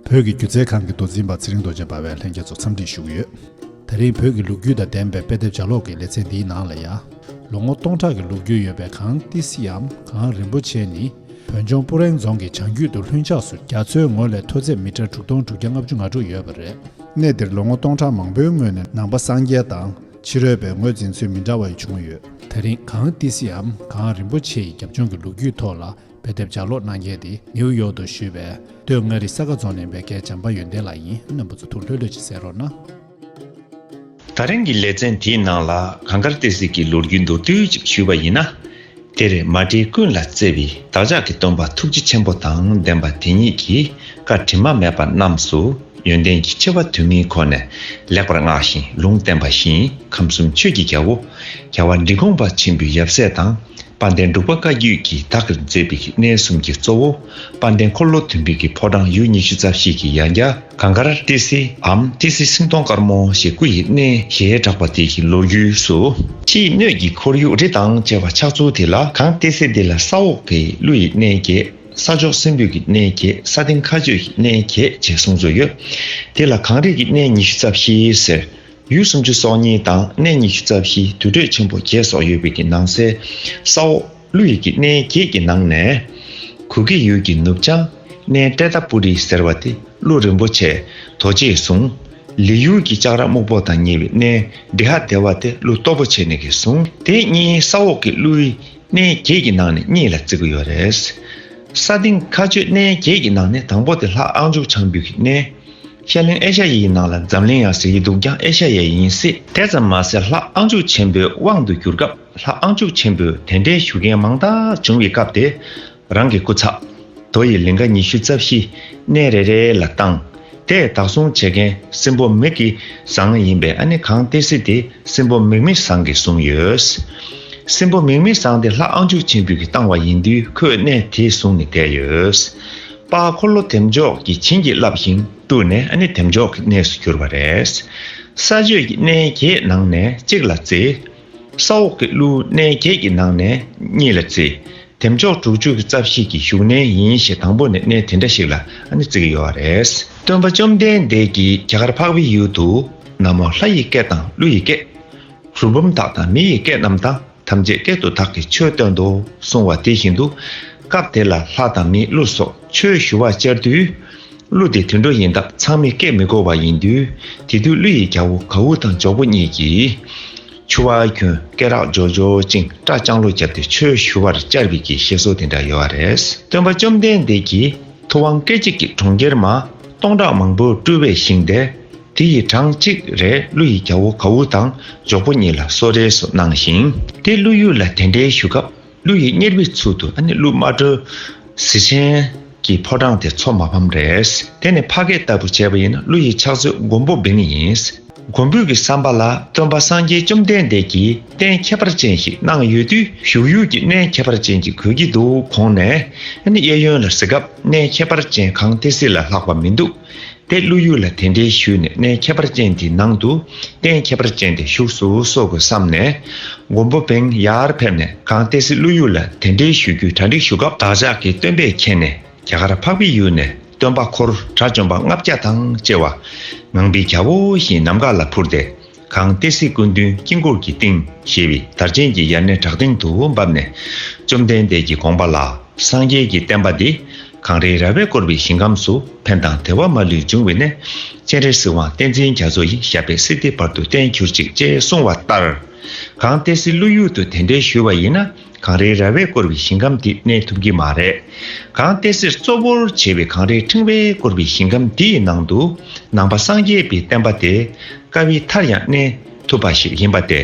བོད་ཀྱི་སྒྱུ་རྩལ་ཁང་གི་མདོ་འཛིན་པ་ཚེ་རིང་རྡོ་རྗེ་འབར་བས་ལྷན་རྒྱས་ཚོ་འཚམས་འདྲི་ཞུས་ཡོད། ད་རིང་བོད་ཀྱི་ལུག་རྒྱུད་དང་ལྡན་པའི་དཔེ་དེབ་ལྗགས་ཀློག་གི་ལེ་ཚན་འདིའི་ནང་ལ་ཡང། ལོ་ངོ་སྟོང་ཕྲག་གི་ལུག་རྒྱུད་ཡོད་པའི་གངས་ཏི་སིའམ་གངས་རིན་པོ་ཆེ་ནི། བོད་ལྗོངས་སྤུ་རེང་རྫོང་གི་བྱང་རྒྱུད་དུ་ལྷུན་ཆགས་སུ་རྒྱ་མཚོའི་ངོས་ལས་མཐོ་ཚད་མི་ཀྲར་དྲུག་སྟོང་དྲུག་བརྒྱ་ལྔ་བཅུ་ང་དྲུག་ཡོད་པ་རེད། གནས་འདིར་ལོ་ངོ་སྟོང་ཕྲག་མང་པོའི་སྔོན་ནས་ནང་པ་སངས་རྒྱས་དང་ཕྱི་རོལ་པའི་ངོས་འཛིན་ཚུལ་མི་འདྲ་བ་ཡི་བྱུང་ཡོད། ད་རིང་གངས་ཏི་སེའམ་གངས་རིན་པོ་ཆེ་ཡི་རྒྱབ་ལྗོངས་ཀྱི་ལུག་རྒྱུད་ཐོག་ལ་དཔེ་དེབ་ལྗགས་ཀློག་གནང་མཁན་དེ་ནེའུ་ཡོག་ཏུ་བཞུགས་པའི་སྟོད་མངའ་རིས་ས་དགའ་རྫོང་ནས་འབད་དགའི་བྱམས་པ་ཡོན་ཏན་ལགས་ཡིན་སྣམ་བུ་ཚོ་ཐུགས་ལྷོད་ལྷོད་ཅིག་གསལ་རོགས་གནང། ད་རིང་གི་ལེ་ཚན་དེའི་ནང་ལ་གངས་དཀར་ཏི་སེ་གི་ལོ་རྒྱུས་མདོར་བསྡུས་ཅིག་ཞུས་པ་ཡིན་ན། དེར་མ་འདྲེས་ཀུན་ལ་བརྩེ་བའི་བདག་ཅག་གི་སྟོན་པ་ཐུགས་རྗེ་ཆེན་པོ་དང་ལྡན་པ་དེ་ཉིད་ཀྱི་བཀའ་དྲི་མ་མེད་པ་རྣམས་སུ་ཡོན་ཏན་གྱི་ཆེ་བ་དུས་མིན་ཁོ་ནས་ལེགས་པར་བསྔགས་ཤིང་ལུང་བསྟན་པ་བཞིན་ཁམས་གསུམ་ཆོས་ཀྱི་རྒྱལ་པོ་རྒྱལ་བ་འབྲིང་གོང་པ་ཆེན་པོའི་ཡབ་སྲས་དང་དཔའ་ལྡན་འབྲུག་པ་བཀའ་བརྒྱུད་ཀྱི་བདག་གིར་མཛད་པའི་གནས་གསུམ་གྱི་གཙོ་བོ། དཔལ་ལྡན་འཁོར་ལོ་དོན་འབིགས་ཀྱི་ཕོ་བྲང་ཡུལ་ཉི་ཤུ་རྩ་བཞི་ཀྱི་ཡང་རྒྱ། གངས་དཀར་ཏི་སེའམ་ཏི་སེ་སིང་སྟོང་དཀར་མོ་ཞེས་སྐུ་ཡི་གནས་ཞེས་གྲགས་པ་དེ་ཡི་ལོ་རྒྱུས་སུ། ཕྱི་ཡི་སྣོད་ཀྱི་ཁོར་ཡུག་རི་དང་བཅས་པ་ཆགས་ཚུལ་དེ་ལ་གངས་ཏི་སེ་འདི་ལ་ས་འོག་གི་ཀླུ་ཡི་གནས་གྱད། ས་ཕྱོགས་སྲིན་འབུད་ཀྱི་གནས་གྱད་ས་སྟེང་མཁའ་སྤྱོད་ཀྱི་གནས་གྱད་ཅེས་གསུངས་ཚུལ་ཡོད། དེ་ལ་གངས་རིས་ཀྱི་གནས་ཉི་ཤུ་རྩ་བཞི་ཟེར། ཡུལ་སུམ་ཅུ་སོ་གཉིས་དང་གནས་ཉི་ཤུ་རྩ་བཞི་དུར་ཁྲོད་ཆེན་པོ་བརྒྱད་སོགས་ཡོད་པའི་ནང་གསེས། ས་འོག། ཀླུ་ཡི་གི་སྣའི་གྱད་ཀྱི་ནང་ནས། གུ་གེ་ཡུལ་གྱི་ནུབ་བྱང་སྣའི་ཏྲེ་ཏཱ་པུ་རི་ཟེར་བ་དེ་ཀླུ་རིན་པོ་ཆེ་རྡོ་རྗེས་བཟུང། ལི་ཡུལ་གྱི་ལྕགས་ར་སྨུག་པོ་དང་ཉེ་བའི་སྣའི་བྲི་ཧ་སྡེ་བ་དེ་ཀླུ་སྟོབས་པོ་ཆེ་ནས་གིས་བཟུང། དེ་གཉིས་ས་འོག་གི་ཀླུའི་སྣའི་གྱད་ཀྱི་ནང་ནས་གཉིས་ལ་བརྩི་གི་ཡོད་རེད། ས་སྟེང་མཁའ་སྤྱོད་སྣའི་གྱད་ཀྱི་ནང་ནས་དང་པོ་དེ་ལྷ་ཨང་ཅུག་བྱང་བུད་གི་སྣའི་ཤར་གླིང་ཨེ་ཤ་ཡེ་ཡི་ནང་ལ་འཛམ་གླིང་ཡང་ཟེར་གྱི་འདུག་ཀྱང་ཨེ་ཤ་ཡེ་ཡིན་སྲིད། དེ་ཙམ་མ་ཟད་ལྷ་ཨང་ཅུག་ཆེན་པོའི་དབང་དུ་གྱུར་སྐབས། ལྷ་ཨང་ཅུག་ཆེན་པོས་དེ་འདྲའི་ཞུ་མཁན་མང་དག་བྱུང་བའི་སྐབས་དེར། རང་གི་སྐུ་ཚབ། དོ་ཡི་ལིངྒ་ཉི་ཤུ་རྩ་བཞི་གནས་རེ་རེ་ལ་བཏང། དེས་བདག་སྲུང་བྱེད་མཁན་སྲིན་པོ་མིག་གི་ཟངས་ཡིན་པས་ཨ་ནི་གང་སྟེ་སྲིད་དེ་སྲིན་པོ་མིག་མི་ཟངས་ཀྱིས་བཟུང་ཡོད། སྲིན་པོ་མིག་མི་ཟངས་དེ་ལྷ་ཨང་ཅུག་ཆེན་པོས་གིས་བཏང་བ་ཡིན་དུས་ཁོས་གནས་དེ་བཟུང་ནས་བསྡད་ཡོད། དཔའ་འཁོར་ལོ་དེབ་མཆོག་གིས་བྱིན་གྱིས་བརླབས་ཤིང་བཀྲུས་ནས་ཨ་ནི་དེབ་མཆོག་གི་གནས་སུ་གྱུར་བ་རེད། ས་སྤྱོད་ཀྱི་གནས་ཁྱེད་ནང་ནས་གཅིག་ལ་བརྩི། ས་འོག་གི་ཀླུ་གནས་བརྒྱད་ཀྱི་ནང་ནས་གཉིས་ལ་བརྩི། དེ་མཆོག་དྲུག་ཅུ་གི་རྩ་བཞི་གི་བཞུགས་གནས་ཡིན་ཞེས་དང་པོ་ནས་གནས་དེ་འདྲ་ཞིག་ལ་བརྩི་གི་ཡོད་རེད། སྟོན་པ་བཅོམ་ལྡན་འདས་ཀྱིས་རྒྱ་གར་འཕགས་པའི་ཡུལ་དུ། ན་མོ་ལྷ་ཡི་སྐད་དང་ཀླུ་ཡི་སྐད། རུས་བུམ་དག་དང་མི་ཡི་སྐད་རྣམས་དང་ཐམས་ཅད་སྐད་དུ་དག་གིས་ཆོས་སྟོན་ཏོ་གསུང་བ་དེ་བཞིན་དུ། སྐབས་དེ་ལ་ལྷ་དང་མི་ཀླུ་སོགས། ཆོས་ཞུ་བར་བཅར་དུས། གླུ་དེ་དུད་འགྲོ་ཡིན་སྟབས་ཚང་མས་སྐད་མི་གོ་བ་ཡིན་དུས། དེ་དུས་གླུ་ཡི་རྒྱལ་བོ་གའུ་དང་འཇོག་པོ་གཉིས་ཀྱིས། ཆུ་བ་གྱོན་སྐེ་རག་སྦྱོར་སྦྱོར་ཅིང་སྐྲ་བཅང་ལོ་བརྒྱབ་སྟེ་ཆོས་ཞུ་བར་བཅར་བའི་གྱི་བཤད་སྲོལ་དེ་འདྲ་ཡོད་བ་རེད། སྟོན་པ་བཅོམ་ལྡན་འདས་ཀྱིས་ཐུབ་དབང་སྐད་ཅིག་གིས་གྲོང་ཁྱེར་མ་སྟོང་ཕྲག་མང་པོ་སྤྲུལ་བའི་ཞིང་དེར། དེ་ཡི་གྲངས་གཅིག་རེ་གླུ་ཡི་རྒྱལ་བོ་གའུ་དང་འཇོག་པོ་གཉིས་ལ་གསོལ་རས་སུ་གནང་ཞིང། དེ་གླུ་ཡུལ་ལ་དེ་འདྲའི་ཞུ་སྐབས། ཀླུ་ཡི་གཉེར་བའི་ཚུལ་དུ་ནི་ཀླུ་དམར་དྲོད་གཟི་ཅན་གྱི་ཕོ་བྲང་དེ་མཚོ་མ་ཕམ་རེད། དེ་ནི་ཕ་སྐད་ལྟ་བུ་བྱས་པ་ཡིན་ན་ཀླུ་ཡི་ཕྱག་མཛོད་མགོན་པོ་བིང་ཡིན། མགོན་པོའི་གི་བསམ་པ་ལ་སྟོན་པ་སངས་རྒྱས་བཅོམ་ལྡན་འདས་ཀྱིས་རྟེན་ཁྱད་པར་ཅན་ཞིག་གནང་ཡོད་དུས་བཞུགས་ཡུལ་གྱི་གནས་ཁྱད་པར་ཅན་གྱི་གོས་ཀྱི་འདུག་གོང་ནས་ནི་གཡས་གཡོན་ལ་གཟི་ཁབ་གནས་ཁྱད་པར་ཅན་གང་སྟེ་གཟི་ལ་ལྷག་པ་མི་འདུག་ཏེ་བློ་ཡུལ་ལ་དེ་འདྲའི་ཤུལ་ནས་གནས་ཁྱད་པར་ཅན་དེའི་ནང་དུ་རྟེན་ཁྱད་པར་ཅན་དེ་བཞུགས་སུ་གསོལ་དགོས་བསམ་ནས། མགོན་པོ་བེང་ཡར་ཕེབས་ནས་གངས་ཏི་སེ་བློ་ཡུལ་ལ་དེ་འདྲའི་ཤུལ་རྒྱུའི་གྲ་འགྲིག་ཞུ་སྐབས་བདག་ཅག་གི་སྟོན་པས་མཁྱེན་ནས་རྒྱ་གར་འཕགས་པའི་ཡུལ་ནས་སྟོན་པ་འཁོར་དགྲ་བཅོམ་པ་ལྔ་བརྒྱ་དང་བཅས་བ། ངང་པའི་རྒྱལ་པོ་བཞིན་ནམ་མཁའ་ལ་འཕུར་ཏེ་གང་སྟེ་སྲིད་ཀུན་མཐུན་དཀྱིལ་འཁོར་གྱི་སྟེང་ཞེས་པའི་དར་ཆེན་གྱི་ཡར་སྣེ་བྲག་སྟེང་དུ་བབས་ནས། བཅོམ་ལྡན་འདས་ཀྱི་དགོངས་པ་ལ་སངས་རྒྱས་ཀྱི་བསྟན་པ་འདི། གངས་རིའི་ར་བས་བསྐོར་བའི་ཞིང་ཁམས་སུ་ཕན་དང་དལ་བ་མ་ལུས་འབྱུང་བས་ནས། སྤྱན་རས་གཟིགས་དབང་བསྟན་འཛིན་རྒྱ་མཚོ་ཡི་ཞབས་པད་སྲིད་སྡེ་བར་དུ་བརྟན་གྱུར་ཅིག་ཅེས་གསུངས་བ་ལྟར། གང་སྟེ་སྲིད་བློན་ཡུལ་དུ་དེ་འདྲའི་བཞུད་བ་ཡིན་ན། གངས་རིའི་ར་བས་བསྐོར་བའི་ཞིང་ཁམས་འདི་གནས་ཐུབ་ཀྱི་མ་རེད། གངས་ཏེ་སེར་གཙོ་བོར་བྱས་པའི་གངས་རིའི་ཕྲེང་བས་བསྐོར་བའི་ཞིང་ཁམས་འདི་ཡི་ནང་དུ་ནང་པ་སངས་རྒྱས་པའི་བསྟན་པ་དེ་དཀའ་བའི་མཐར་ཡང་གནས་ཐུབ་པ་ཞིག་ཡིན་པ་སྟེ།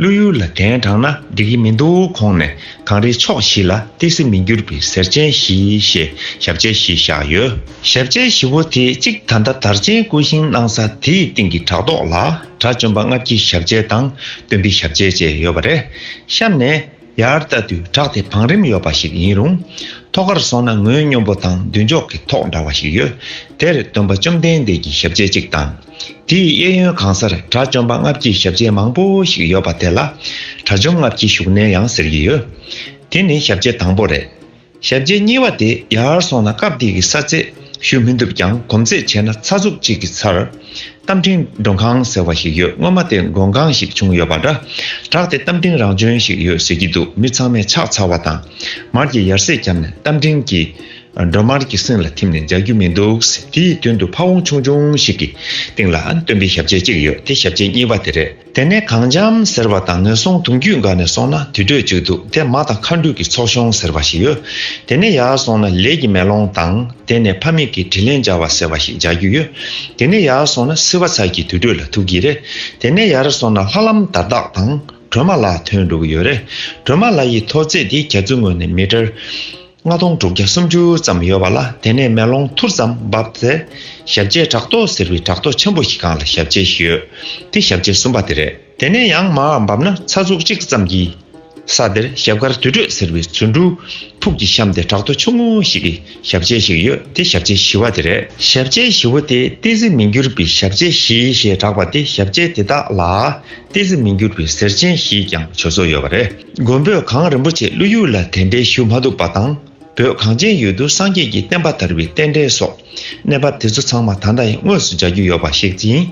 ཀླུ་ཡུལ་ལ་གདན་དྲངས་ན་འགྲིག་གི་མི་འདུག་གོང་ནས་གངས་རིའི་ཕྱོགས་བཞི་ལ་ཏི་སེ་མི་འགྱུར་བའི་ཟེར་ཆེན་བཞི་ཞེས་ཞབས་རྗེས་བཞི་བཞག་ཡོད། ཞབས་རྗེས་བཞི་བོ་དེའི་གཅིག་ད་ལྟ་དར་ཆེན་སྐུ་བཞེངས་གནང་ས་དེའི་སྟེང་གི་བྲག་ཐོག་ལ། དགྲ་བཅོམ་པ་སྔགས་ཀྱི་ཞབས་རྗེས་དང་སྟོན་པའི་ཞབས་རྗེས་བཅས་ཡོད་པ་རེད་བཤམས་ནས། ཡར་བལྟ་དུས་བྲག་དེ་བང་རིམ་ཡོད་པ་ཞིག་ཡིན་རུང། ཐོག་ཁར་སོང་ན་ངོས་སྙོམས་པོ་དང་མདུན་ཕྱོགས་ཀྱི་ཐོག་འདྲ་བ་ཞིག་ཡོད། དེར་སྟོན་པ་བཅོམ་ལྡན་འདས་ཀྱི་ཞབས་རྗེས་གཅིག་དང། དེའི་གཡས་གཡོན་གང་སར་དགྲ་བཅོམ་པ་སྔགས་ཀྱི་ཞབས་རྗེས་མང་པོ་ཞིག་ཡོད་པ་དེ་ལ། དགྲ་བཅོམ་སྔགས་ཀྱི་བཞུགས་གནས་ཡང་ཟེར་གྱི་ཡོད། དེ་ནི་ཞབས་རྗེས་དང་པོ་རེད། ཞབས་རྗེས་གཉིས་བ་དེ་ཡར་སོང་ན་སྐབས་དེ་གི་ས་ཚད་ཞུ་མི་འདུག་ཀྱང་གོམས་ཚད་བྱས་ན་ཚ་ཟུག་ཅིག་གི་ཚར། རྟ་མགྲིན་མགྲོན་ཁང་ཟེར་བ་ཞིག་ཡོད་སྔོན་མ་དེ་མགྲོན་ཁང་ཞིག་བྱུང་ཡོད་པ་འདྲ། བྲག་དེ་རྟ་མགྲིན་རང་བྱོན་ཞིག་ཡོད་ཟེར་གྱི་འདུག་མི་ཚང་མས་ཕྱག་འཚལ་བ་དང། མར་གྱི་ཡར་ཟས་བརྒྱབ་ནས་རྟ་མགྲིན་གྱི་མགྲོན་མར་གྱི་སེང་ལ་ཐིམ་ནས་འཇགས་རྒྱུ་མི་འདུག་དེའི་མདུན་དུ་ཕ་བོང་ཆུང་ཆུང་ཞིག་གི་སྟེང་ལ་སྟོན་པའི་ཞབས་རྗེས་གཅིག་ཡོད་དེ་ཞབས་རྗེས་གཉིས་བ་དེ་རེད། དེ་ནས་གངས་འཇམ་ཟེར་བ་དང་ངན་སོང་དུང་རྒྱུད་འགག་ནས་སོང་ན་དུད་འགྲོས་བཅུ་འདུག་དེ་མ་དང་མཁའ་འགྲོས་ཀྱི་ཚོགས་ཤོང་ཟེར་བ་ཞིག་ཡོད། དེ་ནས་ཡར་སོང་ན་ལས་ཀྱི་མེ་ལོང་དང་དེ་ནས་ཕ་མེས་ཀྱི་དྲིན་ལན་སྦྱར་བ་ཟེར་བ་ཞིག་སྦྱར་རྒྱུ་ཡོད། དེ་ནས་ཡར་སོང་ན་སིལ་བ་ཚལ་གྱི་དུད་འགྲོས་ལ་ཐུག་གི་རེད། དེ་ནས་ཡར་སོང་ན་ལྷ་ལམ་དར་བདག་དང་གྲོ་མ་ལ་ཐོན་འགྲོ་གི་ཡོད་རེད། གྲོ་མ་ལ་ཡི་ཐོ་བརྩེགས་དེ་གྱ་ཚུལ་ངོས་ནས་མི་དར། ལྔ་སྟོང་དྲུག་བརྒྱ་སུམ་ཅུ་ཙམ་ཡོད་པ་ལ་དེ་ནས་མེ་ལོང་ཐུར་ཙམ་འབབ་སྟེ། ཞབས་རྗེས་བྲག་ཏོག་ཟེར་བའི་བྲག་ཏོག་ཆེན་པོ་ཞིག་གང་ལ་ཞབས་རྗེས་ཞིག་ཡོད་དེ་ཞབས་རྗེས་གསུམ་པ་དེ་རེད། དེ་ནས་ཡང་མར་འབབ་ན་ཚ་གཟུགས་གཅིག་ཙམ་གྱི་ས་དེར་ཞབས་དཀར་དུད་འགྲོས་ཟེར་བའི་ཚུར་འབྲུ་ཕུག་གི་གཤམ་དེ་བྲག་ཏོག་ཆུང་ངུ་ཞིག་གི་ཞབས་རྗེས་ཤིག་ཡོད་དེ་ཞབས་རྗེས་བཞི་བ་དེ་རེད། ཞབས་རྗེས་བཞི་བོ་དེ་ཏི་ཙི་མི་འགྱུར་བའི་ཞབས་རྗེས་བཞི་ཞེས་གྲགས་པ་དེ་ཞབས་རྗེས་དེ་དག་ལ་ཏི་ཙི་མི་འགྱུར་བའི་གཟེར་ཆེན་ཞེས་ཀྱང་བྱོ་སོ་ཡོད་པ་རེད། མགོན་པོས་གངས་རིན་པོ་ཆེ་ཀླུ་ཡུལ་ལ་དད་འབྲེལ་ཞུ་མ་ཐུབ་པ་དང་བོད་གངས་ཅན་ཡུལ་དུ་སངས་རྒྱས་ཀྱི་བསྟན་པ་དར་བའི་རྟེན་འབྲེལ་སོགས་གནས་བབ་དེ་ཚོ་ཚང་མ་ད་ལྟ་ཡང་དངོས་སུ་འཇགས་རྒྱུ་ཡོད་པ་ཞིག་ཡིན།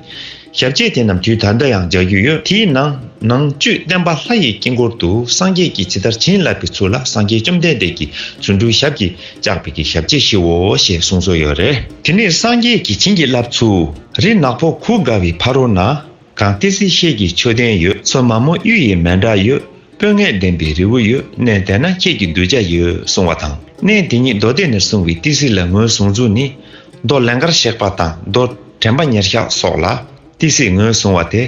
ཞབས་རྗེས་དེ་རྣམས་དུས་ད་ལྟ་ཡང་འཇགས་རྒྱུ་ཡོད། དེའི་ནང་ནང་བཅུད་བསྟན་པ་ལྷ་ཡི་དཀྱིལ་འཁོར་དུ་སངས་རྒྱས་ཀྱིས་ཇི་ལྟར་བྱིན་བརླབས་པའི་ཚུལ་ལ་སངས་རྒྱས་བཅོམ་ལྡན་འདས་ཀྱིས་རྫུ་འཕྲུལ་ཞབས་ཀྱིས་བཅགས་པའི་གི་ཞབས་རྗེས་བཞིའོ་ཞེས་གསུངས་སྲོལ་ཡོད་རེད། དེ་ནས་སངས་རྒྱས་ཀྱིས་བྱིན་གྱིས་བརླབས་ཚུལ་རི་ནག་པོ་གུར་དགའ་བའི་ཕ་རོལ་ན། གངས་ཏི་སེ་ཤེལ་གྱི་མཆོད་རྟེན་ཡོད། མཚོ་མ་མོ་གཡུ་ཡི་མལ་འབྲ་ཡོད། སྤོས་ངད་ལྡན་པའི་རི་བོ་ཡོད། གནས་དེ་ན་ཁྱེད་ཀྱི་གདུལ་བྱ་ཡོད་གསུང་བ་དང། གནས་དེ་ཉིད་རྡོ་སྡེ་ནས་བཟུང་བའི་ཏི་སེ་ལ་ངོས་བཟུང་ཚུལ་ནི། རྡོ་ལན་ཀར་གཤེགས་པ་དང་རྡོ་དྲེན་པ་ཉེར་གཞག་སོགས་ལ་ཏི་སེ་ངོས་བཟུང་བ་སྟེ།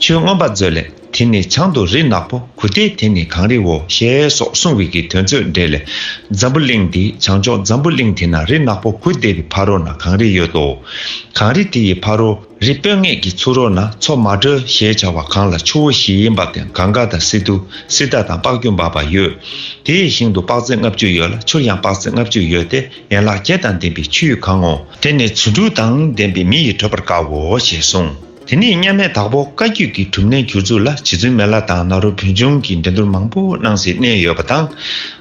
ཆོས་མངོན་པ་མཛོད་ལས་དེ་ནི་བྱང་དུ་རི་ནག་པོ་གུ་ཏའི་དེ་ནི་གངས་རིའོ་ཞེས་སོགས་གསུང་བའི་གི་དོན་ཚོད་འགྲེལ་ལས། འཛམ་བུ་གླིང་འདི་བྱང་ཕྱོགས་འཛམ་བུ་གླིང་དེ་ན་རི་ནག་པོ་གུ་ཏའི་བར་རོ་ན་གངས་རི་ཡོད་དོ། གངས་རི་དེ་ཡི་བར་རོ། རི་སྤོས་ངད་ཀྱི་ཚུར་རོལ་ན་མཚོ་མ་སྒྲོལ་ཞེས་བྱ་བ་གངས་ལ་ཆུ་བོ་བཞི་ཡི་འབབ་སྟེང་གངས་དཀར་དང་སི་ཏུ་སི་ཏཱ་དང་པགས་ཀྱུ་འབབ་པ་ཡོད། དེའི་ཞིང་དུ་པགས་རྩི་ལྔ་བཅུ་ཡོད་ལ་ཆུར་ཡང་པགས་རྩི་ལྔ་བཅུ་ཡོད་དེ་ཡན་ལག་བརྒྱད་དང་ལྡན་པའི་ཆུའི་གངས་ངོ། དེ་ནི་ཆུ་འབྲུག་དང་ལྡན་པའི་མི་ཡིས་བགྲོད་པར་དཀའ་འོ་ཞེས་གསུངས། དེ་ནས་མཉམ་མེད་དྭགས་པོ་བཀའ་བརྒྱུད་ཀྱི་གྲུབ་གནས་གྱུར་ཚུལ་ལ་བྱེས་ཚུལ་མེ་ལ་དང་ནཱ་རོ་བོན་ཆུང་གིས་འགྲན་བསྡུར་མང་པོ་གནང་སྲིད་གནས་ཡོད་པ་དང།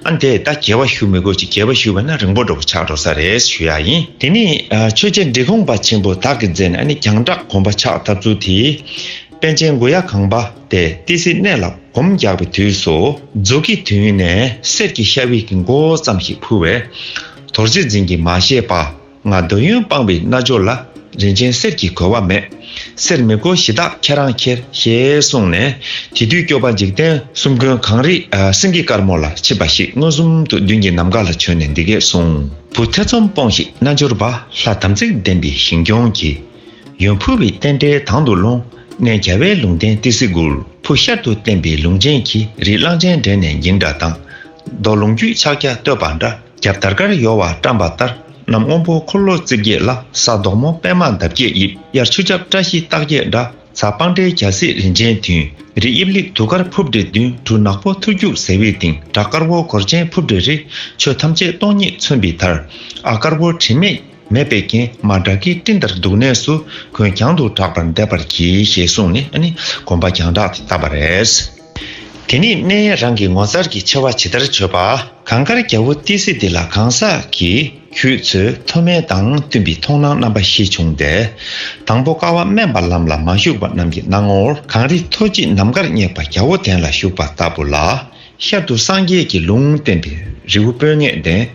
ཨ་འདས་ད་རྒྱལ་བ་ཞུ་མི་དགོས་ཅི་རྒྱལ་བ་ཞུ་བས་ན་རིང་པོ་འགྲོ་གི་ཆགས་འགྲོ་ས་རེད་ཞུ་ཡག་ཡིན། དེ་ནས་ཆོས་རྗེ་འབྲི་གུང་པ་ཆེན་པོ་དག་གི་མཛད་ནས་ཨ་ནི་གྱང་བྲག་གོམ་པ་ཆགས་ཐབས་ཚུལ་དེ། པན་ཆེན་མགོ་ཡག་གངས་པ་དེ་ཏི་སེའི་གནས་ལ་གོམ་རྒྱག་པའི་དུས་སུ། འཛུགས་ཀྱི་དུས་ནས་གསེར་གྱི་ཤ་བིག་གི་མགོ་བོ་ཙམ་ཞིག་ཕུལ་བས། དོར་རྗེས་འཛིན་གྱིས་མ་ཤེས་པ། ང་འདོད་ཡོན་སྤངས་པའི་རྣལ་འབྱོར་ལ། རིན་ཆེན་གསེར་གྱིས་གོ་བ་མེད། གསེར་མི་དགོས་གཞི་བདག་ཁྱེད་རང་ཁྱེར། ཞེས་གསུངས་ནས། དེ་དུས་སྐྱོབ་པ་འཇིག་རྟེན་གསུམ་མགོན་གངས་རི་སེང་གེ་དཀར་མོ་ལ་མཆིས་པ་ཞིག་མངོན་སུམ་དུ་མདུན་གྱི་ནམ་མཁའ་ལ་བྱོན་ནས་འདི་སྐད་གསུངས། བུ་ཐེ་ཚོམ་སྤོངས་ཤིག་རྣལ་འབྱོར་པ། ལྷ་དམ་ཚིག་ལྡན་པའི་ཞིང་སྐྱོང་གི། ཡོན་ཕུལ་བའི་རྟེན་འབྲེལ་དང་དུ་ལོངས། གནས་ག་བའི་ལུང་བསྟན་ཏི་སེ་གུར། བུ་ཤར་དུ་བསྟན་པའི་ལུང་ཅན་གྱིས་རི་གླང་སྤྱན་འདྲེན་ནས་འགྱིང་འདྲ་དང། རྡོ་ལུང་རྒྱུད་ཕྱག་རྒྱ་བསྟོད་པ་འདྲ། རྒྱབ་དར་དཀར་གཡོ་བ་བཀྲམ་པ་ལྟར་གནམ་སྔོན་པོ་འཁོར་ལོ་རྩིབས་བརྒྱད་ལ་ས་དོག་མོ་པད་མ་འདབ་བརྒྱད་དབྱིབས་དབྱར་ཆུ་འཁྱག་བཀྲ་ཤིས་རྟགས་བརྒྱད་འདྲ་ཚ་སྤང་འདྲའི་གྱ་སྲིད་རིན་ཆེན་མཐུན་རི་དབྱིབས་ལེགས་དུག་དཀར་ཕུབ་འདྲེ་བདུན་གྲུ་ནག་པོ་ཐུར་རྒྱུག་ཟེ་དབྱིབས་དིང་འདྲ་དཀར་བོ་གོར་ཆེན་ཕུབ་འདྲེ་རི་ཆོས་ཐམས་ཅད་སྟོང་ཉིད་མཚོན་པའི་དར་ཨ་དཀར་བོ་དྲི་མེད་མེ་དཔེ་གྱེན་མ་དགྲ་བགེགས་སྤྲིན་ལྟར་འདུག་གནས་སུ་གོས་གྱང་དུ་གྲགས་པར་འདེབས་པར་གྱིས་ཞེས་གསུངས་ནས་ནི་གོམ་པ་གྱང་བྲག་དེ་བཏབ་པ་རེད། དེ་ནི་སྨན་ཡས་རང་གི་ངོ་མཚར་གྱི་ཆེ་བ་ཇི་ལྟར་བརྗོད་པ། གངས་དཀར་རྒྱལ་པོ་ཏི་སེ་འདི་ལ་གང་ཟག་གི་ཁྱུ་ཚོས་མཐོ་དམན་དང་བསྟུན་པའི་མཐོང་སྣང་རྣམ་པ་ཤེས་བྱུང་སྟེ། དང་པོ་ཀ་བ་སྨན་པ་ལམ་ལ་མ་ཞུགས་པ་རྣམས་ཀྱི་སྣང་ངོར་གངས་རི་མཐོ་བརྗིད་ནམ་མཁར་སྙེགས་པ་རྒྱ་བོ་དན་ལ་ཞུགས་པ་ལྟ་བུ་ལ། ཤར་དུ་སངས་རྒྱས་ཀྱི་ལུང་བསྟན་པའི་རི་བོ་སྤོས་ངད་ལྡན།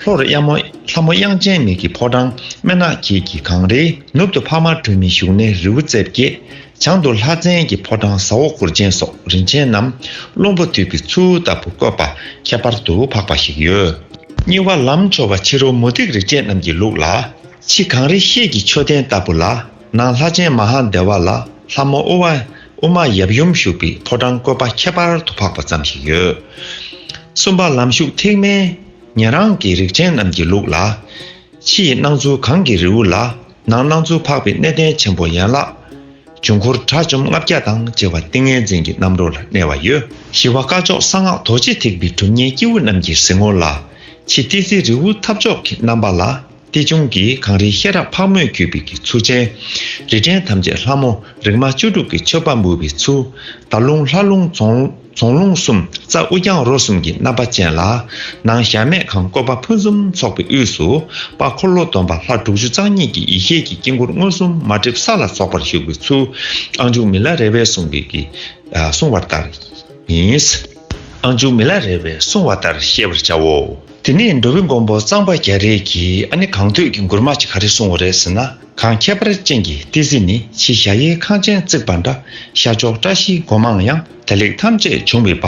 ལྷོ་རུ་གཡའ་མོ་ལྷ་མོ་དབྱངས་ཅན་མེད་ཀྱི་ཕོ་བྲང་སྨན་ནག་འཁྱིལ་གྱི་གངས་རིའི་ནུབ་ཏུ་འཕགས་མ་སྒྲོལ་མའི་བཞུགས་གནས་རི་བོ་རྩེ་བརྒྱད། བྱང་དུ་ལྷ་བཙན་གྱི་ཕོ་བྲང་ཟ་འོག་གུར་ཆེན་སོགས་རིན་ཆེན་རྣམས་བློན་པོ་དུས་ཀྱི་ཚུལ་ལྟ་བུར་བཀོད་པ་ཁྱད་པར་དུ་འཕགས་པ་ཞིག་ཡོད། གཉིས་བ་ལམ་མཆོག་པ་ཕྱི་རོལ་མུ་སྟེགས་རིག་བྱེད་རྣམས་ཀྱི་ལུགས་ལ། ཕྱི་གངས་རི་ཤེལ་གྱི་མཆོད་རྟེན་ལྟ་བུ་ལ། ནང་ལྷ་ཆེན་མ་ཧཱ་དེ་བ་ལ་ལྷ་མོ་ཨུ་བ། ཨུ་མ་ཡབ་ཡུམ་བཞུགས་པའི་ཕོ་བྲང་བཀོད་པ་ཁྱད་པར་དུ་འཕགས་པ་ཙམ་ཞིག་ཡོད། གསུམ་པ་ལམ་ཞུགས་ཐེག་དམན། ཉན་རང་གི་རིག་བྱེད་རྣམས་ཀྱི་ལུགས་ལ། ཕྱི་ཡི་སྣང་ཚུལ་གངས་ཀྱི་རི་བོ་ལ། ནང་སྣང་ཚུལ་འཕགས་པའི་གནས་བརྟན་ཆེན་པོ་ཡན་ལག། བྱུང་འཁོར་དྲྭ་བཅོམ་ལྔ་བརྒྱ་དང་བཅས་པ་ཏིང་ངེ་འཛིན་གྱི་རྣམ་རོལ་ལ་གནས་བ་ཡོད། ཞི་བ་སྐ་ཅོག་གསང་སྔགས་རྡོ་རྗེ་ཐེག་པའི་གྲུབ་བརྙེན་སྐྱེས་བུ་རྣམས་ཀྱི་གཟིགས་ངོར་ལ། ཕྱི་ཏི་སེ་རི་བོའི་ཐབས་མཆོག་གི་རྣམ་པ་ལ་ཏི་ཆུང་གིས་གངས་རིའི་ཤེས་རབ་ཕག་མོས་འཁྱུད་པའི་གི་ཚུལ་ཅན། རི་བྲན་ཐམས་ཅད་ལྷ་མོ་རིག་མ་བཅུ་དྲུག་གི་མཆོད་པ་འབུལ་བའི་ཚུལ། རྡ་རླུང་ལྷ་རླུང་རྫོང། རྫོང་ལུང་གསུམ་རྩ་དབུ་རྐྱང་རོ་གསུམ་གྱི་རྣམ་པ་ཅན་ལ། ནང་གཞལ་མེད་ཁང་བཀོད་པ་ཕུན་སུམ་ཚོགས་པའི་དབུས་སུ། དཔའ་འཁོར་ལོ་སྡོམ་པ་ལྷ་དྲུག་ཅུ་རྩ་གཉིས་ཀྱི་ཡེ་ཤེས་ཀྱི་དཀྱིལ་འཁོར་མངོན་སུམ་མ་བསྒྲིབས་ས་ལ་ཚོགས་པར་བཞུགས་པའི་ཚུལ། ཨང་ཆུང་མི་ལ་རས་པའི་གསུང་གིས་ཀྱིས། གསུང་བ་ལྟར་ཡིན། ཨང་ཆུང་མི་ལ་རས་པའི་གསུང་བ་ལྟར་ཤེས་པར་བྱའོ། དེ་ནས་འགྲོ་བའི་མགོན་པོ་གཙང་པ་རྒྱ་རས་ཀྱིས་ཨ་ནི་གང་འདོད་ཀྱི་མགུར་མ་ཅིག་ག་རེ་གསུང་བ་རེད་ཟེར་ན། གངས་ཁྱད་པར་ཅན་གྱི་ཏི་སེ་ནི་ཕྱི་གཞའ་གཡས་ཁང་ཆེན་བརྩིགས་པ་འདྲ་ཤར་ཕྱོགས་བཀྲ་ཤིས་སྒོ་མང་ཡང་དེ་ལེགས་ཐམས་ཅད་འབྱུང་བའི་བ།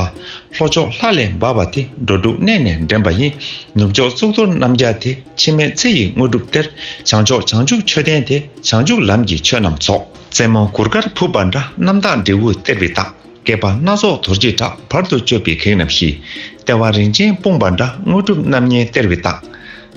ལྷོ་ཕྱོགས་ལྷ་ལས་འབར་བ་དེ་འགྲོ་དྲུག་གནས་ནས་འདྲེན་པ་ཡིན། ནུབ་ཕྱོགས་གཙུག་ཏོར་རྣམ་རྒྱལ་དེ་འཆི་མེད་ཚེ་ཡི་དངོས་གྲུབ་སྟེར། བྱང་ཕྱོགས་བྱང་ཆུབ་མཆོད་རྟེན་དེ་བྱང་ཆུབ་ལམ་གྱི་ཆོས་རྣམས་རྫོགས། རྩེ་མོ་གུར་དཀར་ཕུབ་པ་འདྲ་རྣམ་དག་འབྲས་བུ་སྟེར་བའི་རྟགས། བསྐལ་པ་སྣ་ཚོགས་དོར་བྱེད་དྲག་བར་དུ་གཅོད་པའི་གེགས་རྣམས་ཞི། ལྟེ་བ་རིན་ཆེན་སྤུངས་པ་འདྲ་དངོས་གྲུབ་རྣམ་ལྔའི་སྟེར་བའི་རྟགས།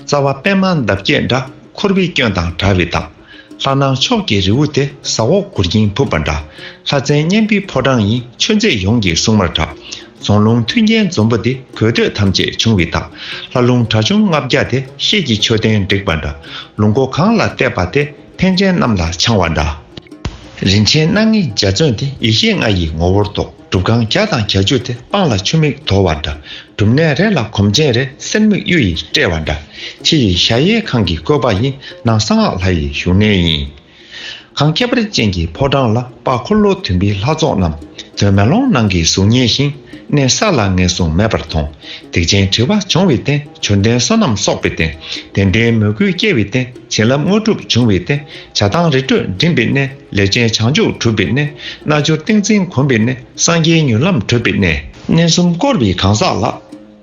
རྩ་བ་པདྨ་འདབ་བརྒྱད་འདྲ་འཁོར་བའི་སྐྱོན་དང་དྲ་བའི་དག། ལྷ་སྣང་ཕྱོགས་ཀྱི་རི་བོ་དེ་ཟ་འོག་གུར་འགྱིང་ཕུབ་པ་འདྲ། ལྷ་བཙན་གཉན་པོའི་ཕོ་བྲང་ཡིན་ཆོས་མཛད་ཡོངས་ཀྱི་སྲུང་མར་གྲགས། རྫོང་ལུང་མཐུན་རྒྱན་འཛོམས་པོ་དེ་གོས་འདོད་ཐམས་ཅད་ཕྱུང་བའི་དག། ལྷ་ལུང་གྲྭ་ཆུང་ལྔ་བརྒྱ་དེ་ཤེད་ཀྱི་མཆོད་རྟེན་བསྒྲིགས་པ་འདྲ། ལུང་སྒོ་གང་ལ་བལྟས་པ་དེ་ཕན་ཆེན་གནམ་ལ་འཕྱང་བ་འདྲ། རིན་ཆེན་སྣ་ལྔའི་འཇའ་ཚོན་དེ་ཡེ་ཤེས་ལྔ་ཡི་ངོ་བོར་རྟོགས། སྒྲུབ་ཁང་རྒྱ་དང་གྱ་གྱུ་སྟེ་སྤང་ལ་ཆུ་མིག་དོར་བ་འདྲ། སྒྲུབ་གནས་རེ་ལ་གོམ་ཆེན་རེ་གསེར་མིག་གཡུ་ཡིས་སྤྲས་བ་འདྲ། ཕྱི་ཡི་གཞའ་གཡས་ཁང་གི་བཀོད་པ་ཡིན་ནང་གསང་སྔགས་ལྷ་ཡི་བཞུགས་གནས་ཡིན། ཁང་ཁྱབ་རི་ཅན་གྱི་ཕོ་བྲང་ལ་དཔའ་འཁོར་ལོ་དུད་འབི་ལྷ་ཚོགས་རྣམས་དོན་མེ་ལོང་ནང་གི་གཟུགས་བརྙན་བཞིན་གནས་གསར་ལ་ངེས་བཟུང་མེད་པར་མཐོང། སྡིག་ཅན་བྲི་བ་འབྱུང་བའི་རྟེན་བྱོན་རྟེན་བསོད་ནམས་གསོག་པའི་རྟེན་བདེན་བྲལ་མོས་གུས་སྐྱེ་བའི་རྟེན། བྱིན་རླབས་དངོས་གྲུབ་འབྱུང་བའི་གནས། བྱ་བཏང་རི་ཁྲོད་འགྲིམས་པའི་གནས། ལས་ཅན་བྱང་ཆུབ་གྲུབ་པའི་གནས། རྣལ་འབྱོར་ཏིང་འཛིན་གོམས་པའི་གནས། སངས་རྒྱས་མྱུར་ལམ་གྲོལ་བའི་གནས། གནས་གསུམ་བསྐོར་བའི་གང་ཟག་ལ།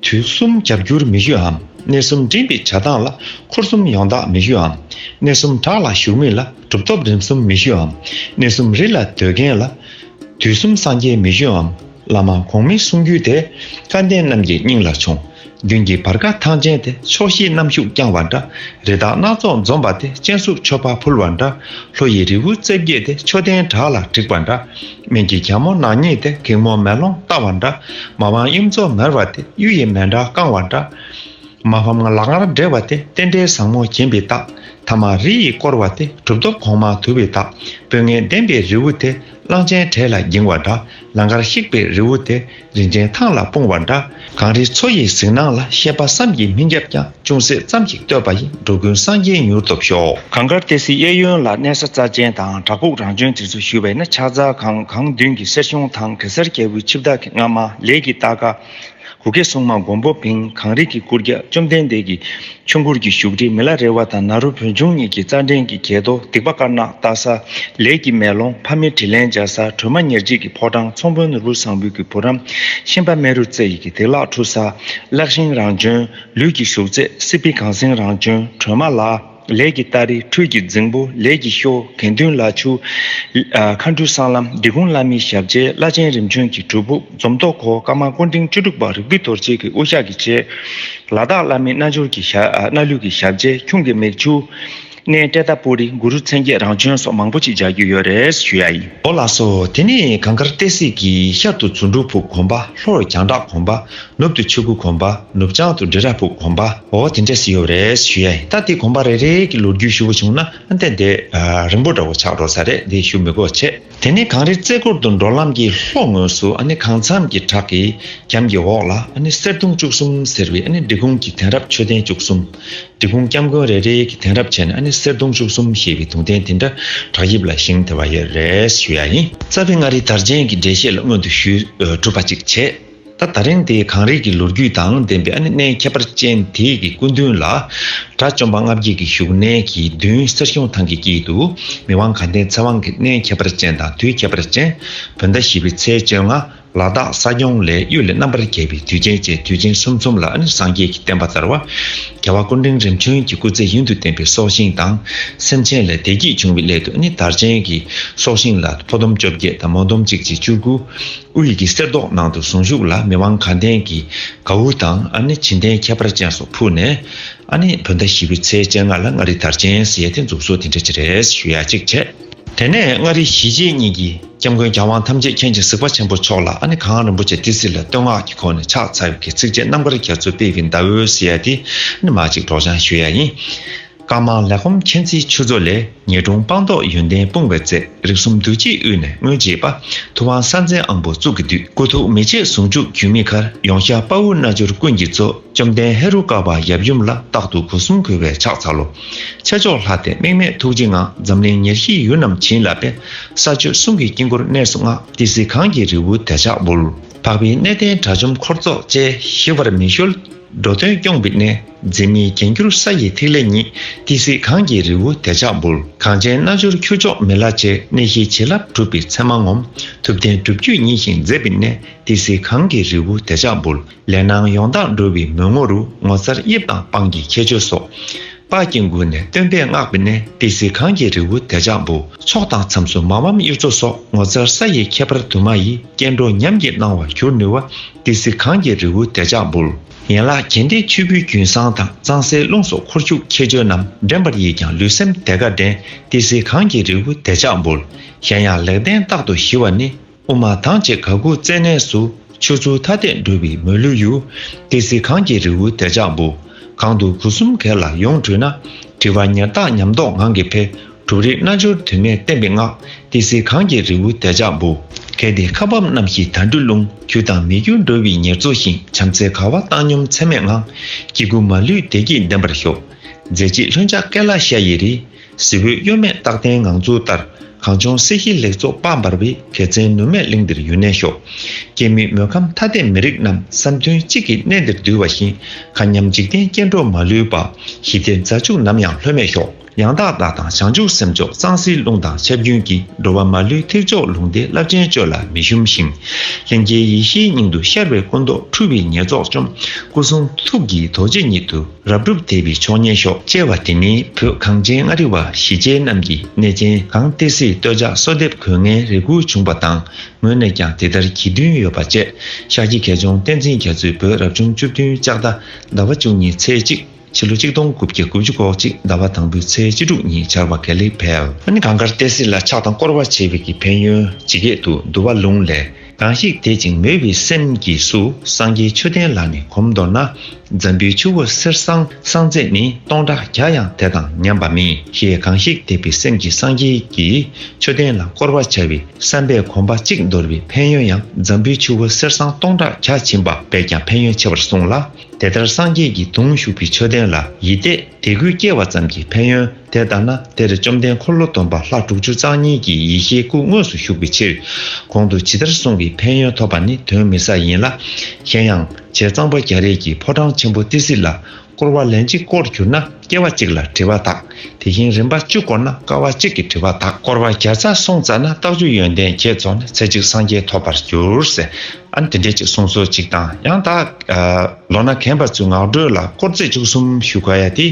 དུས་གསུམ་རྒྱབ་འགྱུར་མི་གཡོ་འམ། གནས་གསུམ་འགྲིམས་པའི་བྱ་བཏང་ལ། འཁོར་གསུམ་ཡོངས་དག་མི་གཡོ་འམ། གནས་གསུམ་བྲག་ལ་བཞུགས་མི་ལ། གྲུབ་ཐོབ་རིམ་གསུམ་མི་གཡོ་འམ། གནས་གསུམ་རི་ལ་སྡོད་མཁན་ལ། དུས་གསུམ་སངས་རྒྱས་མི་གཡོ་འམ། བླ་མ་གོང་མའི་གསུང་རྒྱུན་དེ། བཀའ་བསྟན་རྣམས་ཀྱི་སྙིང་ལ་ཆོངས། རྒྱུན་གྱི་བར་ཁ་ཐང་ཅན་དེ་ཕྱོགས་བཞིའི་གནམ་ཤུགས་བརྐྱང་བ་འདྲ། རི་དྭགས་སྣ་ཚོགས་འཛོམས་པ་དེ་སྤྱན་ཟུར་མཆོད་པ་ཕུལ་བ་འདྲ། ལྷོ་ཡི་རི་བོའི་རྩེ་བརྒྱད་དེ་མཆོད་རྟེན་བྲག་ལ་བྲེགས་པ་འདྲ། སྨད་ཀྱི་གྱང་མོ་ནག་ཉེས་དེ་གེགས་མོ་མེ་ལོང་བཏགས་བ་འདྲ། མ་དབང་གཡུ་མཚོ་མེར་བ་དེ་གཡུ་ཡི་མེ་འདྲ་བཀང་བ་འདྲ། མ་ཕམ་ལག་ངར་བསྒྲེལ་བ་དེ་རྟེན་འབྲེལ་བཟང་མོ་བྱིན་པའི་རྟགས། ཐ་མ་རི་ཡིས་བསྐོར་བ་དེ་གྲུབ་ཐོབ་གོང་མ་དུལ་བའི་རྟགས། དཔོན་ངན་བདེན་པའི་རི་བོ་དེ་གླང་ཆེན་གྲལ་ལ་འགྱིང་བ་འདྲ། ལང་ཀར་གཤེགས་པའི་རི་བོ་དེ་རིན་ཆེན་ཐང་ལ་སྤུངས་བ་འདྲ། གངས་རིའི་མཚོ་ཡི་གཟིགས་སྣང་ལ་ཤེས་པ་བསམ་གྱིས་མི་ཁྱབ་ཀྱང་ཅུང་ཟད་ཙམ་ཞིག་བསྟོད་པ་ཡིས་འགྲོ་ཀུན་སངས་རྒྱས་མྱུར་ཐོབ་ཤོག། གངས་དཀར་ཏི་སེའི་གཡས་གཡོན་ལ་གནས་ས་རྩ་ཆེན་དང་བྲག་ཕུག་རང་བྱོན་དེ་ཚོ་བཞུགས་པས་ན་ཕྱག་རྫ་གངས་གངས་མདུན་གྱི་གསེར་གཞོང་ཐང་གེ་སར་རྒྱལ་པོའི་ཆིབས་བདག་གི་རྔ་མ་ལས་ཀྱི་རྟ་སྒ། གུ་གེ་སྲུང་མ་མགོན་པོ་བིང་གངས་རི་གི་སྐུར་རྒྱལ་བཅོམ་ལྡན་འདས་ཀྱི་ཆོས་འཁོར་གྱི་བཞུགས་ཁྲི་མི་ལ་རེ་བ་དང་ན་རུ་བོན་ཆུང་གཉིས་ཀྱི་རྩ་འགྲེལ་གྱི་གྱད་དོ་སྡིག་པ་དཀར་ནག་བལྟ་ས་ལས་ཀྱི་མེ་ལོང་ཕ་མེས་དྲིན་ལན་འཇལ་ས་ཁྲོས་མ་ཉེར་གཅིག་གི་ཕོ་བྲང་ཚོང་དཔོན་ནོར་བུ་བཟང་བོད་ཀྱི་བུ་རམ་ཤིང་པ་སྨན་རུ་རྩེ་ཡི་གི་བདེ་བླག་འཁྲུ་ས་བརླག་ཤིང་རང་བྱོན་ལུས་ཀྱི་བཞུགས་རྩེ་སྲིད་པའི་གངས་སེང་རང་བྱོན་ཁྲོས་མ་ལ། ལས་ཀྱི་སྟ་རེ་འཕྲུལ་གྱི་རྫིང་བུ་ལས་ཀྱི་ཤོ་གན་བདུན་ལ་ཆུ། མཁའ་འགྲོའི་སྲང་ལམ་སྡེ་གུང་བླ་མའི་ཞབས་རྗེས་བླ་ཆེན་རིམ་བྱོན་གྱི་གྲུབ་ཕུག་འཛོམ་རྟོག་གོ་དཀར་མང་ཀུན་འབྲིང་བཅུ་དྲུག་པ་རིག་པའི་དོར་བྱེད་ཀྱི་དབུ་ཞྭ་གྱི་ཆས། ལ་དྭགས་བླ་མའི་རྣལ་འབྱོར་གྱི་རྣལ་ལུས་ཀྱི་ཞབས་རྗེས་ཁྱུང་གི་མིག་ཆུ། སྣའི་སྐྲའི་རྟ་ཕོ་རི་གུ་རུ་མཚན་བརྒྱད་རང་བྱོན་སོགས་མང་པོ་ཅིག་སྦྱར་རྒྱུ་ཡོད་རེད་ཞུ་ཡ་ཡིན། འོ་ལགས་སོ་དེ་ནས་གངས་དཀར་སྟེ་གསེར་གྱི་ཤར་དུ་རྫུ་འཕྲུལ་ཕུག་གོམ་པ་ལྷོར་རྒྱང་གྲགས་གོམ་པ་ནུབ་ཏུ་ཆོས་སྐུ་གོམས་པ་ནུབ་བྱང་དུ་འབྲི་ར་ཕུག་གོམས་པ་འོ་དེ་འདྲ་ཞིག་ཡོད་རེད་ཞུ་ཡ་ཡིན་ད་འདི་གོམས་པ་རེ་རེ་གི་ལོ་རྒྱུས་ཞུ་བ་བྱུང་ན་དེ་འདི་རིང་པོ་འདྲ་བོ་ཆགས་འགྲོ་ས་རེད་འདི་ཞུ་མི་དགོས་ཆེ་དེ་ནས་གངས་རི་རྩེ་སྐོར་དུ་འགྲོ་ལམ་གྱི་ལྷོ་ངོས་སུ་གངས་མཚམས་ཀྱི་བྲག་གི་གམ་གྱི་འོག་ལ་གསེར་གདུང་བཅུ་གསུམ་ཟེར་བའི་འབྲི་གུང་གི་དེང་རབས་མཆོད་རྟེན་བཅུ་གསུམ་འབྲི་གུང་སྐྱབས་མགོན་རེ་རེ་གི་དེང་རབས་བྱས་ནས་གསེར་གདུང་བཅུ་གསུམ་ཞེས་པའི་དུང་རྟེན་དེ་འདྲ་བྲག་ཡིབ་ལ་བཞེངས་ཐུབ་པ་ཡོད་རེད་ཞུ་ཡ་ཡིན། རྩ་བའི་མངའ་རིས་དར་རྒྱན་གྱི་འགྲེལ་བཤད་ལ་སྔོན་དུ་ཞུས་གྲུབ་པ་ཅིག་བྱས། ད་ད་རིང་འདི་གངས་རི་གི་ལོ་རྒྱུས་དང་ལྡན་པའི་ཨ་ནེ་གནས་ཁྱད་པར་ཅན་དེ་ཡི་གི་སྐུ་མདུན་ལ། དགྲ་བཅོམ་པ་ལྔ་བརྒྱད་ཀྱི་བཞུགས་གནས་ཀྱི་མདུན་གསེར་གཞོང་ཐང་གི་དཀྱིལ་དུ། མི་དབང་གངས་ལྡན་ཚེ་དབང་གི་གནས་ཁྱད་པར་ཅན་དང་དུས་ཁྱད་པར་ཅན། བོད་ཟླ་བཞི་པའི་ཚེས་བཅོ་ལྔ་ལ་སྟག་ས་སྐྱོང་ལས་གཡུལ་ལས་རྣམ་པར་རྒྱལ་བའི་དུས་ཆེན་བཅས་དུས་ཆེན་གསུམ་ཚོམ་ལ་ཨ་ནེ་སངས་རྒྱས་ཀྱི་བསྟན་པ་དར་བ། རྒྱལ་བ་ཀུན་འབྲིང་རིམ་བྱོན་གྱི་སྐུ་ཚེ་ཡུན་དུ་བརྟན་པའི་སྲོག་ཤིང་དང། སེམས་ཅན་ལས་བདེ་སྐྱིད་འབྱུང་བའི་སླད་དུ་ཨ་ནེ་དར་ཅན་གྱི་སྲོག་ཤིང་ལ་ཕོ་ཟླུམ་བཅོ་བརྒྱད་དང་མོ་ཟླུམ་གཅིག་ཅེས་བཅུ་དགུ། དབུས་ཡི་གེ་གསེར་མདོག་ནང་དུ་གཟུངས་གཞུག་ལ་མི་དབང་གངས་ལྡན་གྱི་གྭའུ་དང་ཨ་ནི་བྱིན་ལྡན་ཁྱད་པར་ཅན་སོགས་ཕུལ་ནས། ཨ་ནི་བོད་ཟླ་བཞི་བའི་ཚེས་བཅད་ལྔ་ལ་མངའ་རིས་དར་ཆེན་སི་ཡ་ཐེ་འཛུགས་སོ་དེ་འདྲ་བྱེད་རེས་ཞུ་ཡ་ཅིག་བྱས། དེ་ནས་མངའ་རིས་གཞིས་བྱེས་གཉིས་ཀྱི་སྐྱབས་མགོན་གྱ་དབང་ཐམས་ཅད་མཁྱེན་ཅིང་གཟིགས་པ་ཆེན་པོ་མཆོག་ལ་ཨ་ནི་གངས་རིན་པོ་ཆེ་ཏི་སི་ལ་བསྟོད་བསྔགས་ཀྱི་ཁོང་ནས་ཕྱག་འཚལ་བའི་ཚིགས་བཅད་རྣམ་དཀར་རྒྱ་མཚོའི་དཔལ་གྱི་ཟླ་འོད་སི་ཡ་ཐེ་ནི་མ་ཅིག་སྒྲོགས་སྦྱང་ཞུ་ཡ་ཡིན། དཀར་དམར་ལས་སྐོམ་མཁྱེན་བརྩེའི་ཆུ་མཚོ་ལས་ཉེས་གདུང་སྤངས་རྟོགས་ཡོན་ཏན་སྤུངས་བའི་རྩལ་རིག་གསུམ་བདུད་རྗེའི་དབུས་ནས་མངོན་བྱེད་པ། ཐུབ་དབང་གསང་མཚན་ཨང་བུ་གཙུག་གི་བདུད། སྐུ་ཐུགས་མི་ཕྱེད་ཟུང་འཇུག་འགྱུར་མེད་མཁར་ཡོངས་ཤར་དཔའ་བོ་རྣལ་འབྱོར་ཀུན་གྱི་གཙོ། བཅོམ་ལྡན་ཧེ་རུ་ཀ་པ་ཡབ་ཡུམ་ལ་རྟག་ཏུ་སྒོ་གསུམ་གུས་པས་ཕྱག་འཚལ་ལོ། ཆེ་མཆོག་ལྷ་སྟེ་དམིགས་མེད་ཐུགས་རྗེ་ངང་འཛམ་གླིང་ཉེར་བཞིའི་ཡུལ་རྣམས་བྱིན་རླབས་པས། ས་སྤྱོད་གསུང་གི་དཀྱིལ་འཁོར་གནས་སུ་སྔགས་ཏི་སེ་གངས་ཀྱི་རི་བོའི་དལ་ཆགས་འབུལ། འཕགས་པའི་གནས་བརྟན་དགྲ་བཅོམ་འཁོར་ཚོགས་བཅས། ཞི་བར་མི་བཤོལ། འགྲོ་དོན་སྐྱོང་བི་ནས་འཛིན་མི་རྒྱན་གྱུར་ས་ཡི་ཐིག་ལེ་ཉིད། ཏི་སེ་གངས་ཀྱི་རི་བོ་དལ་ཆགས་འབུར། གངས་ཅན་རྣལ་འབྱོར་ཁྱུ་མཆོག་མི་ལ་བཅས་གནས་ཤེས་བྱིན་རླབས་གྲུབ་པའི་མཚན་མ་ངོམ། ཐུབ་བསྟན་སྒྲུབ་བརྒྱུད་ཉིད་བཞེངས་མཛད་བི་ནས་ཏི་སེ་གངས་ཀྱི་རི་བོ་དལ་ཆགས་འབུར། ལས་སྣང་ཡོངས་དག་འགྲོ་བའི་མོས་ངོ་རུ་ངོ་མཚར་དབྱིབས་དང་དཔངས་ཀྱི་ཁྱད་ཆོས་སོགས། དཔག་ཀྱིན་མགུལ་ནས་སྟོན་པས་བསྔགས་པའི་གནས་ཏེ་གཟིགས་ཁང་གི་རི་བོ་དལ་ཅག་འབུ་ཚོགས་དང་མཚམས་སུ་མ་འམ་གཡུ་མཚོ་སོགས་ངོ་མཚར་ས་ཡི་ཁྱད་པར་དུ་མ་ཡིས་སྐྱེ་འགྲོ་ཉམས་ཀྱི་སྣང་བར་གྱུར་ནུས་བ་སྟེ་གཟིགས་ཁང་གི་རི་བོ་དལ་ཅག་འབུལ། ཡན་ལག་གྱེན་ལྡན་ཆུ་བོའི་རྒྱུན་བཟང་དང་གཙང་སའི་ཀླུང་སོགས་འཁོར་རྒྱུག་ཁྱད་ཆོས་རྣམས་འདྲེན་པར་ཡིས་ཀྱང་ལུས་སེམས་དལ་ཁ་འདྲེན་ཏེ་གཟིགས་ཁང་གི་རི་བོ་དལ་ཅག་འབུལ། གཞན་ཡང་ལེགས་ལྡན་རྟག་ཏུ་ཞི་བ་ནི་དབུ་མ་ཐང་ཆེ་ག་གུ་རྩེ་ནས་སུ། ཆོས་ཚུལ་ཐ་དད་འགྲོ་བའི་མ་ལུས་ཡུལ། ཏི་སེ་གངས་ཀྱི་རི་བོའི་དལ་ཅག་འབུ། གང་དུ་གུ་གསུམ་གས་ལ་ཡོངས་བྲུས་ན། དྲི་བ་ཉེར་བརྟག་ཉམས་རྟོགས་ངང་གིས་འཕེལ། གྲུབ་རིགས་རྣལ་འབྱོར་དུ་མས་བསྟན་པའི་སྔགས། ཏི་སེ་གངས་ཀྱི་རི་བོའི་དལ་ཅག་འབུ། གལ་ཏེ་ཁ་བབས་རྣམ་བཞི་དལ་འགྲོས་རླུང། གྱུར་དང་མི་འགྱུར་འགྲོ་བའི་ཉེར་འཚོ་ཞིང། བྱམས་བརྩེ་གར་བ་བཏང་སྙོམས་ཚད་མེད་ངང། སྐྱེ་དགུ་མ་ལུས་བདེ་སྐྱིད་ལྡན་པར་ཤོག། མཛད་རྗེས་ལྷུན་ཆགས་སྐལ་ལ་ཤ་ཡི་རི། གཟི་འོད་གཡོ་མེད་རྟག་བརྟན་ངང་ཚུལ་ལྟར། གངས་ལྗོངས་སྲིད་ཞིའི་ལེགས་ཚོགས་དཔའ་འབར་བའི། དད་བརྩེའི་ནུབ་སྨད་གླིང་འདིར་ཡུན་གནས་ཤོག། སྐྱེ་མེད་མོས་ཁམས་ཐ་དད་མི་རིགས་རྣམས། བསམ་དོན་གཅིག་གིས་གནས་འདིར་འདུས་བ་བཞིན། མཁའ་མཉམ་འཇིག་རྟེན་སྐྱེ་འགྲོ་མ་ལུས་པ། ཞི་བདེ་མཛའ་གཅུགས་ནམ་ཡང་ལྷོད་མེད་ཤོག། ཡང་དག་བདག་དང་བྱང་ཆུབ་སེམས་མཆོག་གཙང་སེལ་རླུང་དང་ཆབ་རྒྱུན་གྱིས་འགྲོ་བ་མ་ལུས་ཐེག་མཆོག་ལུང་བསྟན་རླབས་ཆེན་སྤྱོད་ལ་མི་ཞུམ་ཞིང། ལྷན་སྐྱེས་ཡེ་ཤེས་སྙིང་དུ་ཤར་བའི་སྐུ་མདོག་འཕྲུལ་བའི་ཉེར་རྫོགས་བཅོམ། སྐུ་གསུང་ཐུགས་ཀྱི་རྡོ་རྗེ་ཉིད་དུ། རབ་སྒྲུབ་དད་པའི་མཆོག་སྙན་ཤོག་ཅེས་པ་དེ་ནི་བོད་གངས་ཅན་མངའ་རིས་བ་གཞིས་བྱེས་རྣམས་ཀྱི་གནས་ཆེན་གངས་ཏི་སེའི་སྟོད་ཆ་གསོལ་འདེབས་གོས་ངན་རེ་སྒུག་བྱུང་བ་དང་ངོས་ནས་ཀྱང་དེ་ལྟར་གྱིས་བསྟུན་ཡོད་པ་བཅས་ཤག་ཁྱི་གལ་མཆོང་བསྟན་འཛིན་རྒྱ་མཚོས་བོད་རབ་བྱུང་བཅུ་བདུན་ལྕགས་རྟ་ཟླ་བ་བཅུ་གཉིས་ཚེས་གཅིག་ཕྱི་ལོ་གཅིག་སྟོང་དགུ་བརྒྱ་དགུ་བཅུ་གོ་གཅིག་ཟླ་བ་དང་པོའི་ཚེས་བཅུ་དྲུག་ཉིན་ཆར་བ་གལ་ལེགས་འཕེལ། གངས་དཀར་ཏི་སེ་ལ་ཕྱག་དང་བསྐོར་བ་བྱེད་པའི་གི་ཕན་ཡོན་ཇི་སྐད་དུ་འདུ་བ་ལུང་ལས། གང་ཞིག་དད་ཅིང་མོས་པའི་སེམས་ཀྱིས་སུ་སངས་རྒྱས་ཆུ་ལྡན་ལ་ནི་གོམས་མདོར་ན། འཛམ་བུའི་ཆུ་བོ་གསེར་སྲང་བསང་རྫས་ནི་སྟོང་ཕྲག་བརྒྱ་ཡང་དེ་དང་མཉམ་པ་མིན་ཞེས་གང་ཞིག་དད་པའི་སེམས་ཀྱིས་སངས་རྒྱས་ཀྱི་ཆུ་ལྡན་ལ་བསྐོར་བར་བྱ་བའི་བསམ་པས་གོམས་པ་གཅིག་འདོར་བའི་ཕན་ཡོན་ཡང་འཛམ་བུའི་ཆུ་བོ་གསེར་སྲང་སྟོང་ཕྲག་བརྒྱ་བྱིན་པ་བས་ཀྱང་ཕན་ཡོན་ཆེ་བར་གསུངས་ལ། དེ་ལྟར་སངས་རྒྱས་ཀྱི་གདུང་ཞུགས་པའི་ཆོས་ལྡན་ལ་ཡིད་གཏད་དད་གུས་སྐྱེ་བ་ཙམ་གྱིས་ཕན་ཡོན་དེ་ལྡང་ན་དེར་བཅོམ་ལྡན་འཁོར་ལོ་སྡོམ་པ་ལྷ་དྲུག་ཅུ་རྩ་གཉིས་ཀྱི་ཡེ་ཤེས་སྐུ་དངོས་སུ་བཞུགས་པའི་ཕྱིར། གོང་དུ་ཇི་ལྟར་གསུངས་པའི་ཕན་ཡོན་ཐོབ་པ་ནི་དོན་མི་ཟ་ཡིན་ལ། གཞན་ཡང། བྱས་གཙང་པ་རྒྱ་རིགས་ཀྱི་ཕོ་བྲང་ཆེན་པོ་ཏི་སི་ལ་བསྐོར་བ་ལན་གཅིག་བསྐོར་གྱུར་ན་སྐྱེ་བ་གཅིག་ལ་དྲི་བ་དག་དེ་བཞིན་རིམ་པ་བཅུ་བསྐོར་ན་དཀའ་བ་གཅིག་གི་དྲི་བ་དག། བསྐོར་བ་བརྒྱ་རྩ་གསུམ་བཙལ་ན་རྟགས་བཅུ་ཡོན་ཏན་བརྒྱད་རྫོགས་ནས་ཚེ་གཅིག་སངས་རྒྱས་ཐོབ་པར་འགྱུར། ཨ་འདི་འདྲས་ཅིག་གསུང་སྲོལ་ཅིག་དང་ཡང་དག་ལོ་ན་གན་པ་ཚོའི་ངག་སྒྲོས་ལ་དཀོར་རྫས་བཅུ་གསུམ་ཞུ་དགོས་ཡ་དེ་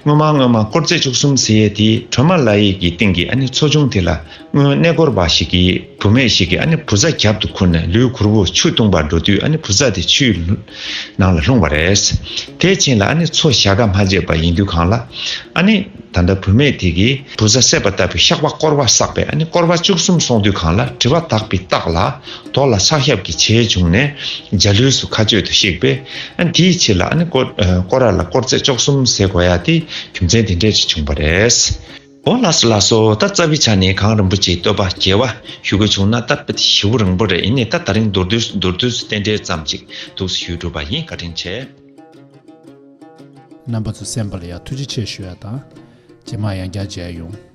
སྔོན་མ་སྔོན་མ་དཀོར་རྫས་བཅུ་གསུམ་ཟེར་ཡས་དེ་ཁྲོན་མ་ལ་ཡས་ཀྱི་སྟེང་གི་ཨ་ནི་མཚོ་ཆུང་དེ་ལ་སྔོན་གནས་སྐོར་བ་ཞིག་གིས་བུ་མེད་ཞིག་གིས་ཨ་ནི་བུ་ཚ་གྱབ་ཏུ་ཁུར་ནས་ལུས་གུར་བུ་ཆུ་བཏུང་བར་འགྲོ་དུས་ཨ་ནི་བུ་ཚ་དེ་ཆུའི་ནང་ལ་ལྷུང་བ་རེད། དེས་ཕྱིན་ལ་ཨ་ནི་མཚོ་བཞག་ཁ་མ་བརྗེད་པ་ཡིན་དུས་གང་ལ་ཨ་ནི་ད་ལྟ་བུ་མེད་དེ་གིས་བུ་ཚ་བསད་པ་ལྟ་བུའི་ཤག་པ་སྐོར་བ་བསགས་པས་ཨ་ནི་སྐོར་བ་བཅུ་གསུམ་སོང་དུས་གང་ལ་དྲི་བ་དག་པའི་རྟགས་ལ་དོགས་ལ་ཕྱག་ཞབས་ཀྱི་ཆེ་བྱུང་ནས་འཇའ་ལུས་སུ་མཁའ་སྤྱོད་དུ་གཤེགས་པས། དེའི་ཕྱིར་ལ་ཀོ་ར་ལ་དཀོར་རྩེ་ལྕོག་གསུམ་ཟེར་དགོས་ཡ་དེ་རྒྱུ་མཚན་དེ་འདྲས་ཅིག་བྱུང་བ་རེད། འོ་ལགས་སོ་ལགས་སོ་ད་རྩ་བའི་ཆ་ནས་གངས་རིན་པོ་ཆེའི་བསྟོད་པ་རྒྱས་བ་ཞུ་དགོས་བྱུང་ན་ད་ཞི་བོ་རིང་པོ་རེད་ཡིན་ནས་ད་ད་རིང་མདོར་བསྡུས་སུ་མདོར་བསྡུས་སུ་རྟེན་འབྲེལ་ཙམ་ཅིག་འདུག་ཟེར་ཞུས་གྲུབ་པ་ཡིན་བཀའ་དྲིན་ཆེ། རྣམ་པ་ཚོ་གསན་པ་ལ་ཡང་ཐུགས་རྗེ་ཆེ་ཞུ་ཡ་དང། རྗེས་མར་ཡང་བསྐྱར་མཇལ་ཡོང།